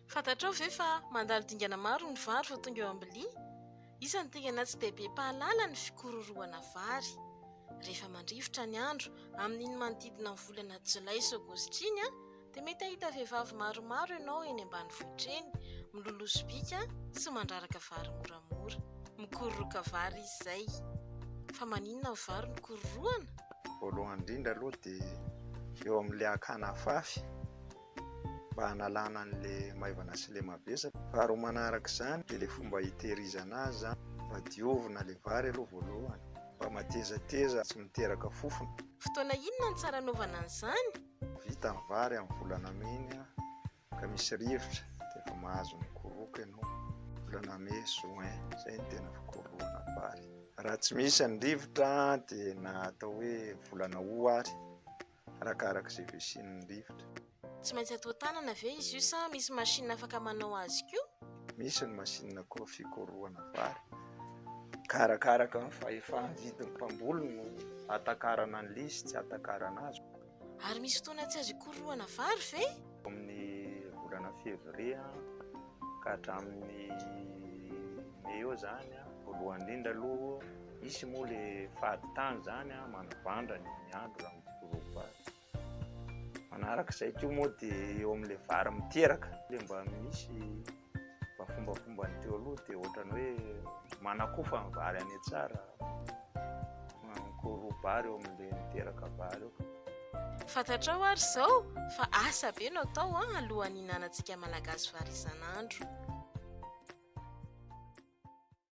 Fantatrao ve fa mandalo dingana maro ny vary vao tonga eo am-bilia? Iza no dingana tsy dia be mpahalala ny fikororohana vary? Rehefa mandrivotra ny andro, amin'iny manodidina ny volana jolay sy aogositra iny, dia mety hahita vehivavy maromaro ianao eny ambanivohitra eny, miloloha sobika sy mandraraka vary moramora. mora. Mikororoka vary izy izay. Fa maninona ny vary no kororohana? Voalohany indrindra aloha dia eo amin'ilay hakana afafy mba hanalana an'ilay maivana sy ilay mavesatra. Faharoa manaraka izany dia ilay fomba hitehirizana azy izany. Mba diovina ilay vary aloha voalohany mba matezateza tsy miteraka fofona. Fotoana inona no tsara anaovana an'izany? Vita ny vary amin'ny volana May ny ahy ka misy rivotra dia efa mahazo ny koroka ianao volana mai juin izay ny tena fikorohana vary raha tsy misy any rivotra dia na atao hoe volana ho ary arakaraka izay vesin'ny rivotra tsy maintsy atao tanana ve izy io sa misy machine afaka manao azy koa misy ny machine koa fikorohana vary ka arakaraka ny fahefana vidin'ny mpamboly no atakarana ny lisy tsy atakarana azy Ary misy fotoana tsy azo ikorohana vary ve? Amin'ny volana février ka hatramin'ny mai eo izany, voalohany indrindra aloha, misy moa ilay fadin-tany izany manavandra ny andro raha mikororo vary. Manaraka izay koa moa dia eo amin'ilay vary miteraka dia mba misy. Mba fombafomba ny teo aloha dia ohatrany hoe manakofa ny vary any tsara, manakoro vary eo amin'ilay miteraka vary eo. Fantatrao ary izao fa asa be no atao alohan'ny hihinanantsika Malagasy vary isan'andro.